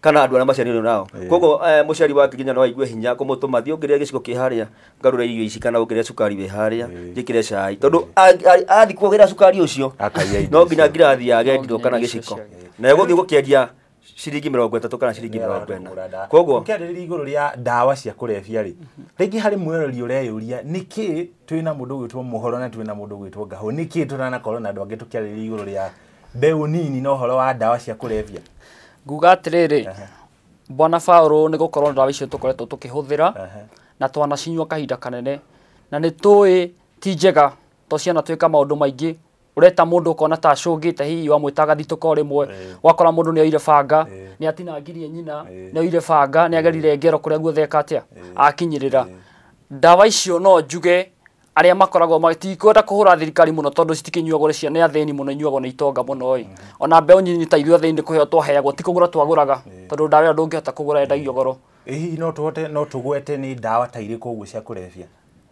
kana andå arä a maciarirwo nao Ĩĩ. koguo må ciari wa ngirinya no aigue hinya kå må tå ma thiä å ngä rä gä ciko kä harä a ngarå re irio ici kana å ngä re cukari wä harä a njä kä re cai tondå athiä kuagä ra cukari å cio Akaia irio no nginya icio. ngirathi ya gendirwo kana gä ciko na gå thiä gå kä endia ciringi mä rongo ätatå kana ciringi mä rongo ena koguo ũkĩarĩrĩria igũrũ rĩa ndawa cia kũrebia rĩ rĩngĩ harĩ mwĩrori ũreyũria nĩkĩ twĩ na mũndũ ũgwĩtwo mũhoro na twĩ na mũndũ ũgwĩtwo ngahũ nĩkĩ tũtanakorwo na andũ angĩ tũkĩarĩrĩria igũrũ rĩa mbeũ nini na ũhoro wa ndawa cia kũrebia nguga atĩrĩrĩ bwana Paũlũ nĩ gũkorwo ndawa icio tũkoretwo tũkĩhũthĩra na twanacinyua kahinda kanene na nĩ tũĩ ti njega to ciana twĩka maũndũ maingĩ ureta mũndũ ũkona ta acũngĩte hihi wamwĩta agathitũka o rĩmwe wakora mũndũ nĩ oire banga nĩ atinangirie nyina nĩ oire banga nĩ agerire ngero kũrĩa guothe eka atĩa akinyĩrĩra ndawa icio no njuge arĩa makoragwo matikwenda kũhũra thirikari mũno tondũ citikĩnyuagwo cia nĩ athĩni mũno inyuagwo nĩ itonga mũno ĩ ona mbeũ nyinyi ta ithuĩ athĩni nĩ kũheo twaheagwo ti kũgũra twagũraga tondũ ndawa ĩyo ndũngĩhota kũgũra endagio goro Ĩ hihi no tũhote no tũgwete nĩ ndawa ta irĩkũ ũguo cia kũrebia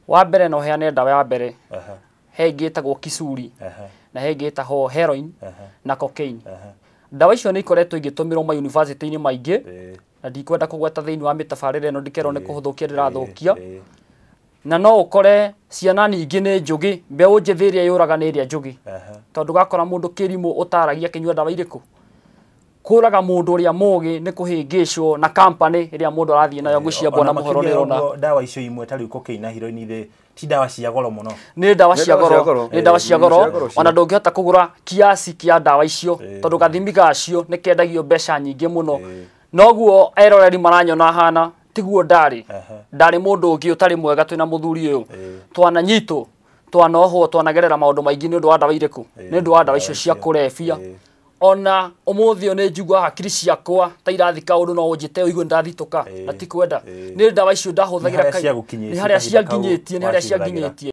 wa mbere no heane ndawa ya mbere Aha, he ĩngĩ ĩtagwo kisuri aha, na he ĩngĩ ĩtagwo heroin aha, na cocaine aha. ndawa icio nĩ ikoretwo igĩtũmĩrwo mayunivasĩtĩ-inĩ maingĩ Ĩ, na ndikwenda kũgweta thĩinĩ wa mĩtabarĩre ĩno ndikerwo nĩ kũhũthũkia ndĩrathũkia ĩ, na no ũkore ciana nyingĩ nĩ njũgĩ mbeũ njĩthĩ ĩrĩa yũraga nĩ ĩrĩa njũgĩ tondũ gakora mũndũ kĩrimũ ũtaragia kĩnyua ndawa irĩkũ kũraga mũndũ ũrĩa mũgĩ nĩ kũhĩngĩcwo na kampani ĩrĩa mũndũ arathiĩ nayo ngwĩciambona mũhoro nĩ ũrona ndawa icio imwe tarĩu kokaini na hiroini thĩ ti ndawa cia goro muno nä ndawa cia goro nä ndawa cia goro ona ndå ngä hota kå gå ra kiasi kia ndawa icio tondå gathimi gacio nä kendagio mbeca nyingä må no noguo eroreri maranyona hana tiguo ndarĩ ndarĩ mundu ungi utari mwega twina muthuri uyu twana nyito twana ohwo twanagerera maundu maingi ni undu wa ndawa iriku ni undu wa ndawa icio cia kurebia ona umuthi ni njigua hakiri ciakwa ta irathi kaundu no unjite uigue ndathituka na ti kwenda ni ndawa icio ndahuthagira kai ni haria cianginyitie ni haria cianginyitie